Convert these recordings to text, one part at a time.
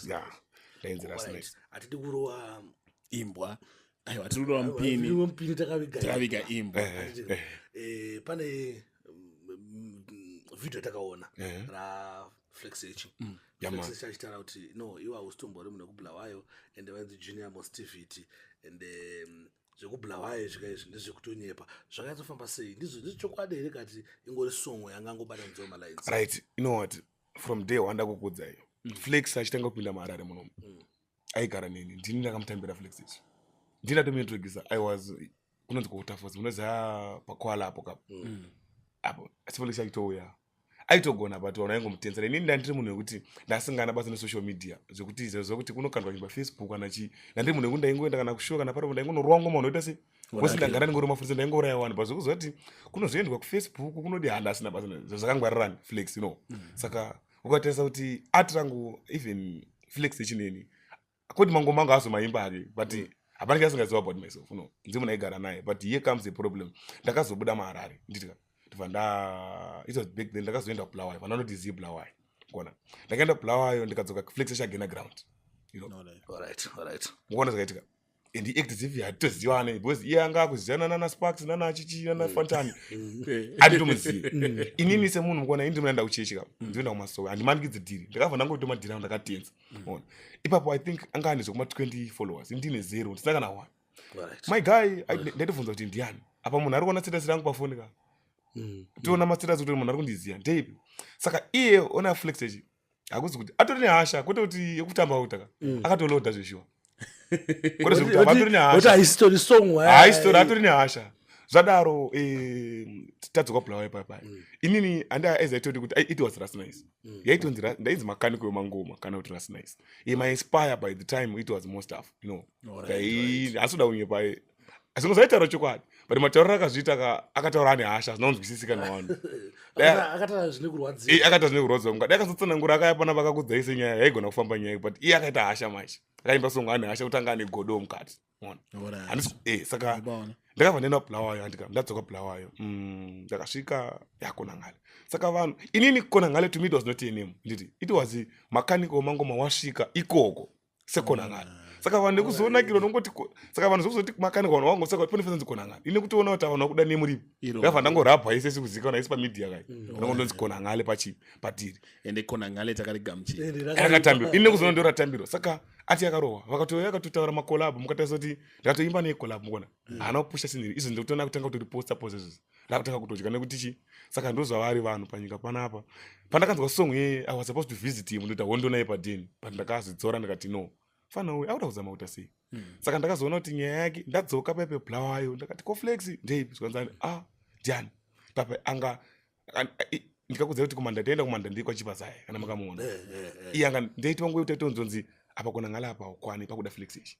yeah dangerous man atidi kurowa imbwa aiwa tiri kurowa mpini mpini takaviga takaviga imbwa eh, eh, eh. eh pane mm, video takaona eh. ra flex echi mm. flex achitaura kuti no iwa ustombori mune kubulawayo and vanzi junior mostivity and um, zvekubulawayo zvika izvi ndezvekutonyepa zvakanyatso famba sei ndizvo ndizvo chokwadi here kati ingori songo yanga angobata nzoma lines right you know what from day one ndakukudzai mm. flex achitanga kupinda maharare munomu mm. aigara neni ndini ndakamutambira flex isu ndini ndatomuintroducer i was kunonzi kuutafos munoziva ah, pakwala apo kapo mm. mm. apo asi flex achitouya aitogona but vanhu aingomutenzera inini ndandiri munhu wekuti ndasingana basa nesocial media zvekuti zvekuti kunokandwa nyumba facebook kana chii ndandiri munhu wekuti ndaingoenda kana kushuwa kana paripo ndaingonorowa ngoma unoita sei kosi ndagara ndingori mafurisa ndaingouraya wani but zvekuziva kuti kunozoendwa kufacebook kunodi handa asina basa zvazvakangwarirani flex no mm. saka ukatarisa kuti art rangu even flex echineni koti mango mango azo maimba ake but mm. hapana ke asingaziva about myself no ndzi munhu aigara naye but here comes the problem ndakazobuda maharare nditika ndibva nda it was back then ndakazoenda kubulawayo vananoti zi bulawayo kona ndakaenda kubulawayo ndikadzoka flex echagena ground you know? no, no. All right, all right. mukona zvakaitika and act as if hatitozivane because iye anga akuzivana nana sparks nana chichi nana mm. fantani mm. eh. anditomuzivi mm. inini semunhu mukona ini ndinoenda kuchechi kapa ndinoenda kumasowe handimanikidzi dhiri ndakabva ndangoita madhiri angu ndakatenza ona ipapo i think anga ane zvekuma 20 followers ndine zero ndisina kana one my guy ndaitobvunza kuti ndiani apa munhu ari kuona status rangu pafoni ka tiona mastatus kuti munhu ari kundiziva ndeipi saka iye ona flex echi hakuzi kuti atori nehasha kwete kuti yekutamba uta ka mm. akatoloda zveshuwa kwete zvekuti vatori nehashahaisitori atori nehasha zvadaro eh, tadzoka bulawa ipapa mm. inini andaizaitoti kuti it was rasnice mm. yaitonzi ndainzi makaniko yemangoma kana kuti rasnice imainspire by the time it was most of you know asi uda kunyepaye asi ngozaitaura chokwadi but matauriro akazviita akataura ane hasha hazvina kunzwisisika navanhu akataura zvine kurwadziwa mukadi akazotsanangura akaya pana vakakudzaise nyaya yaigona kufamba nyaya but iye akaita hasha manje akaimba songo ane hasha kutanga ane godo mukati eh, saka ndakabva ndaenda kubulawayo andika ndadzoka bulawayo mm, ndakasvika yakonangale saka vanhu inini konangale to me it was not a name nditi it was mechanical mangoma wasvika ikoko sekonangana mm. saka vanhu nekuzonakirwa nongoti saka vanhu zvokuzoti makanika vanhu vavangosa kuti pane fanonzi konangana ine kutoona kuti vanhu vakuda nemuripo ngava ndangorabwa ise sikuzikana ise pamedia kai mm. anongondonzi konangale pachi patiri ende konangale takarigamuchirakatambirwa ine kuzoona ndo ratambirwa saka ati yakarohwa vakatouya akatotaura makolabo mukatarisa kuti ndakatoimba nekolabo mukona mm. haana kupusha siniri izvo ndikutoona kutanga kuti riposta posa izvozvo ndakutanga kutodya nekuti chi saka ndozvavari vanhu panyika panapa pandakanzwa song yeye i was supposed to visit him ndoita hondo naye padeni but ndakazvidzora ndikati no fana uyu auda kuzama kuita sei hmm. saka ndakazoona kuti nyaya yake ndadzoka paipe blawayo ndakati koflex ndeipi zvikanzani a ah, ndiani pape anga ndikakudzira kuti kumanda taenda kumanda ndiri kwachipazaye kana makamuona eh, eh, eh. iye anga ndaitiva nguva yekuti aitonzonzi apa kona ngala apa ukwani pakuda flex ichi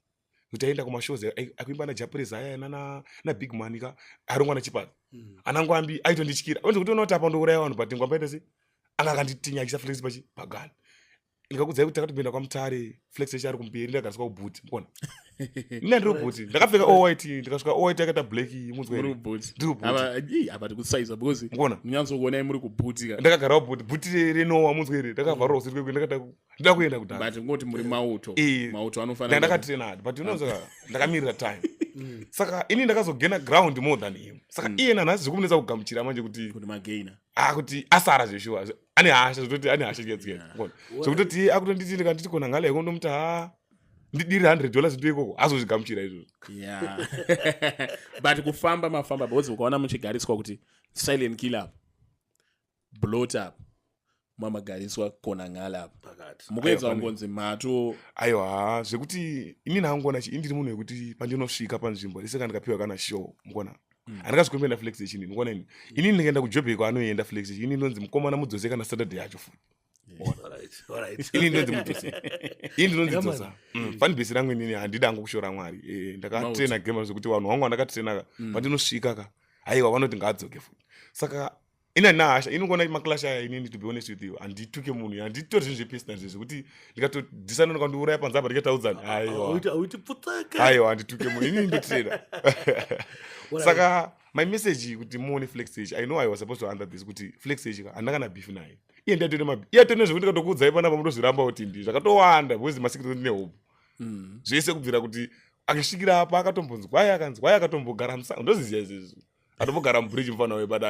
kuti aenda kumashows akuimba najapureza aya nana nabig man ka arongwa nachipara mm. anangu ambi aitondityira onzi kuti unoti apa ndouraya vanhu but ngwambaita se anga akanditinyakisa flex pachi pagani ndikakudzai kuti takatoenda kwamutare flex echi ari kumberi ndakagariswa kubhuti mukona ina ndiri bhuti ndakapfeka owit ndikasvika owit yakaita black munzweriapatikutsaisa because mukona munyanzokuonai muri kubhutika ndakagarawo bhuti bhuti renowa munzweri ndakavharwa kusiri kwekwe ndakada ndoda kuenda kudhara but ngoti muri mauto eh, mauto anofanira ndakati renard but unoza ah. ndakamirira time mm. saka ini ndakazogena ground more than him saka mm. iye nanhasi zvikumunetsa kugamuchira manje kuti kuti magaina ah kuti asara zveshuwa ane hasha zvototi ane hasha chikedzikeza zvokutoti akutonditi ndikanditi kona ngale yako ndomuti ha ndidiri 100 dollars ndo ikoko azozvigamuchira izvozvo but kufamba mafamba because ukaona muchigariswa kuti silent killer blot up mamagariswa kona ngale apa pakati mukuedza Aiwa, pane- kungonzi mato aiwa haa, zvekuti ini ndangoona chi indiri munhu wekuti pandinosvika panzvimbo rese kana ndikapiwa kana show mukuona Mm. handikazi kumbenda flex yechini mukuona ini ini ndikaenda kujobheko anoenda flex yechini inonzi mukomana mudzose kana saturday yacho futi ini ndinonzi mutusi ini ndinonzi dzosa mm. fani bhesi rangu inini handidi angu kushora mwari eh, ndakatrena gema zvekuti vanhu vangu vandakatrena ka mm. pandinosvika ka haiwa vanoti ngaadzoke futi saka ina nahasha inogona maclash aya inini to be honest with you handituke munhu handitori zvinhu zvepersonal zve zvekuti ndikatodisana nokandiuraya panze apa ndikataudzani haiwa handituke munhu inini ndotrena saka my message kuti muone flexage i know i was supposed to under this kuti flexage handakana beef naye iye ndiatone mabi iye atone zvekuti ndikatokuudzai panapa munozviramba kuti ndi zvakatowanda because masikiro ndine hope mm. zvese kubvira kuti akasvikira apa akatombonzwai akanzi wai akatombogara musango ndoziziva izvezvi atombogara mubridge mufana wayo but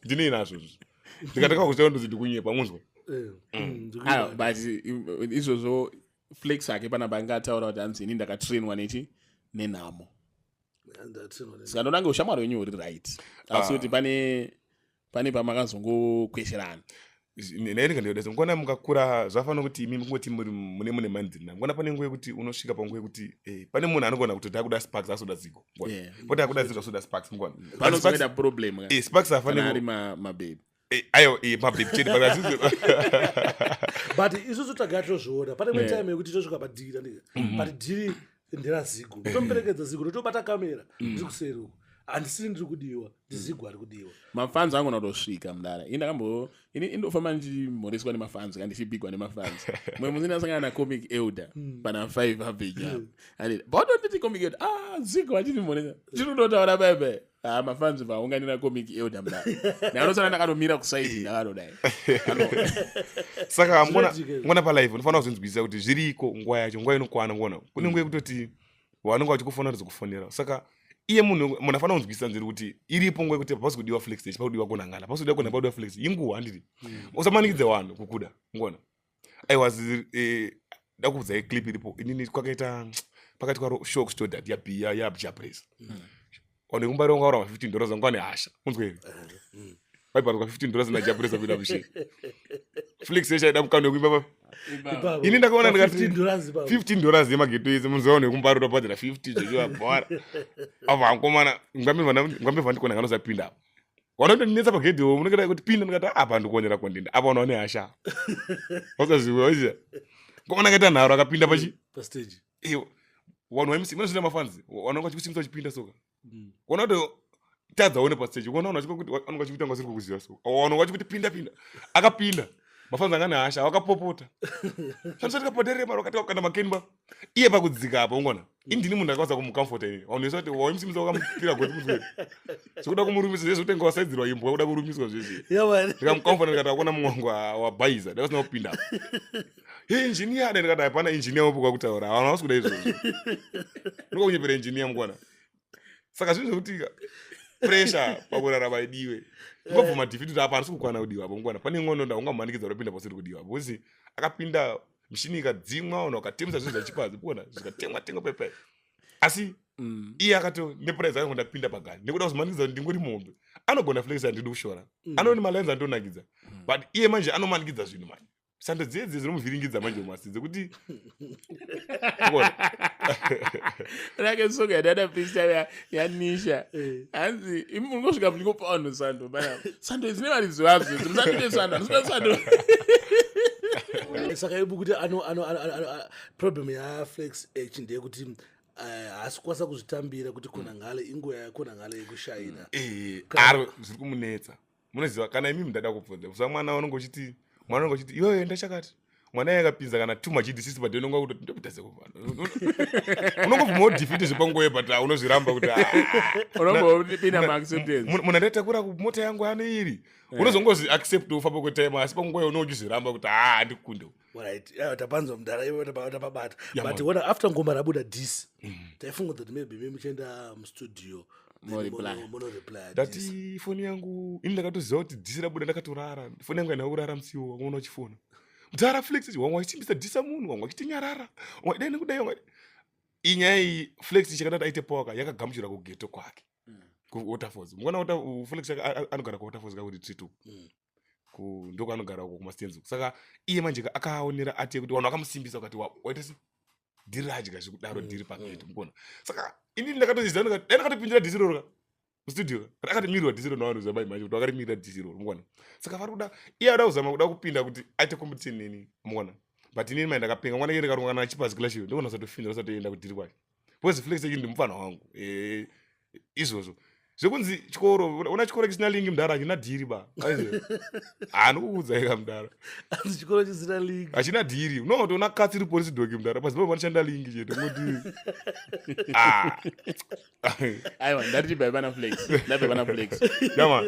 ndinei nazvo zvi ndikatanga kuziva ndozi ndikunyepa munzwa eh, mm. mm, ah, but uh, izvozvo flex ake panapa anga ataura kuti hanzi ini ndakatrainwa nechi nenhamo saka ndonange ushamwari wenyu huri right asi ah. kuti pane pane pamakazongokwesherana nairinga ndiyodesa mukuona mukakura zvafanira kuti imi mukungoti muri mune mune mandiri na mukuona pane nguva yekuti unosvika panguva yekuti eh, pane munhu anogona kuti dakuda sparks asoda ziko poti akuda ziko asoda sparks mukuona panozoita problem eh, sparks afanira ari mabebe eh, ayo mabebe chete but isusu tagara tozviona pane mwe time yekuti tosvika padhiri mm-hmm. but dhiri ndira zigo ndomuperekedza zigo ndotobata kamera mm. ndiri kuseri uko handisiri ndiri kudiwa ndizigo ari kudiwa mafanzi angu notosvika mudara ini ndakambo ini indofamba ndichimhoreswa nemafanzi ka ndichibigwa nemafanzi mwe musi ndasangana nacomic elder mm. pana five aveja mm. and bautonditi comic elder ah zigo achindimhoresa chiri kutotaura bebe Ah, mafanzi vaunganira comic elder mda naanotsana ndakanomira kusaidi ndakadodai saka mona palive unofanira kuzvinzwisisa kuti zviriko nguva yacho nguva inokwana ngona kune nguva yekutoti vanonga vachikufonera kuti kufonera saka iye munhu munhu afanira kunzwisisa nziri kuti iripo nguva yekuti hapasi kudiwa flex stage pakudiwa kunangana hapasi kudiwa kunapa kudiwa flex inguva handiti mm. usamanikidze vanhu kukuda ngona i was eh, ndakubvudza ye clip iripo inini kwakaita pakati kwaro show kustodat yabiya yabja praise mm. one kumba ronga ura 15 dollars anga ane hasha unzwe here mm. vaiparwa 15 dollars naja praise kuita mushe flix echaida mukano wekuimba ini ndakaona ndikati 15 dollars yemageto ese munzwa one kumba rota padira 50 zvechiva bhora avo hankomana ngambe vandikona nganosapinda apo vanotondinetsa pagedhi wo munenge dai kuti pinda ndikati ah, apa ndikuonera kondinda apa unaone hasha wasaziwaiza komana akaita nharo akapinda pachi mm, pastage iwo vanhu vamc vanozvina mafanzi vanonga vachikusimisa vachipinda soka mm. kuona kuti tadza one pastage kuona vanhu vachikuti vanonga vachikuita nga vasiri kukuziva so vanonga vachikuti pinda pinda akapinda mafanzi anga nehasha vakapopota shandisa tikapoterema vakati vakukanda makenba iye pakudzika apo ungona indini munhu akakwanisa kumucomforta ini vanhuesa kuti waimusimisa wakamupira goti muswere zvekuda kumurumiswa zvese zvotenge wasaidzirwa imbwa kuda kurumiswa zvese ndikamucomforta ndikati akuona mwangu wabhaiza ndakasina kupinda he injiniya da ndikati hapana injiniya wopo kwakutaura vanhu havasi kuda izvozvo ndiko kunyepera injiniya mukwana saka zvinhu zvekuti pressure pakurarama idiwe ngobvuma defeat kuti apa handisi kukwana kudiwa apo mukwana pane ngono ndaungamumanikidza kuti apinda pasiri kudiwa apo akapinda mishini ikadzimwa ona ukatemesa zvinhu zvachipazi kuona zvikatemwa temwa pepe asi mm. iye akato nepuraizi akango ndapinda pagani nekuda kuzomanikidza kuti ndingori muhombe anogona flex andidi kushora mm. anooni malines andionakidza mm. but iye manje anomanikidza zvinhu manje sando dziye dziye dzinomuvhiringidza manje masi dzekuti rake soga dada pistaya yanisha eh. hanzi imi muri kusvika muchingopa vanhu sando bana sando idzine mari dzivadzo dzimsandide sando handisina sando saka ibu kuti problem yaflex h ndeyekuti eh, haasi kukwanisa kuzvitambira kuti konangale inguva yakonangale yekushaina eh, aro zviri kumunetsa munoziva kana imi mundada kubvunza kusa mwana unonge uchiti mwana unonge uchiti iwewe enda chakati mwana yakapinza kana too much disisi but unonga kuti ndopitase kuvana unongobvuma udefeat zvepanguva yebata unozviramba kuti munhu andatakura kumota yangu ano iri unozongozi accept ufamba kwetime asi panguva yo unouchizviramba kuti haa ndikukunde Eh, tapanzwa mudhara ivo tapabata but ona after ngoma rabuda dis mm. taifunga kuti maybe me muchienda mustudio ndati foni yangu ini ndakatoziva kuti dhisi rabuda ndakatorara foni yangu aina kurara musiwo wanga una uchifona mudhara flex wanga wachitimbisa dhisa munhu wanga wachitinyarara wanga dai nekudai wanga inyaya iyi flex chakadati aite powaka yakagamuchira kugeto kwake mm. kuwaterfalls mukona flex anogara kuwaterfalls kakuti trituku mm. ndokwanogara uko kumastands uko saka iye manje akaaonera ati yekuti vanhu vakamusimbisa ukati waita se dhiri radya zvekudaro mm, dhiri paketi mm. mukona saka inini ndakatoziva dai ndakatopindira dhisi roro mustudio ka akatimirwa dhisi roro navanhu zabai manje kuti vakatimirira dhisi roro mukona saka vari kuda iye ada kuzama kuda kupinda kuti aite competition neni mukona but inini mai ndakapenga mwana iye ndikarunga kana achipazikila chiyo ndikona satofinda asatoenda kudhiri kwacho because flex yu ndimupfanha wangu eh, izvozvo zvekunzi chikoro una chikoro chisina lingi mudhara hachina dhiri ba anokukuudzaika mudhara chikoro chisina lingi hachina dhiri no toona katsiri polisi doki mudhara pazipa vanoshanda lingi chete moti ah. aiwa ndariti baivanaflex ndabaivanaflex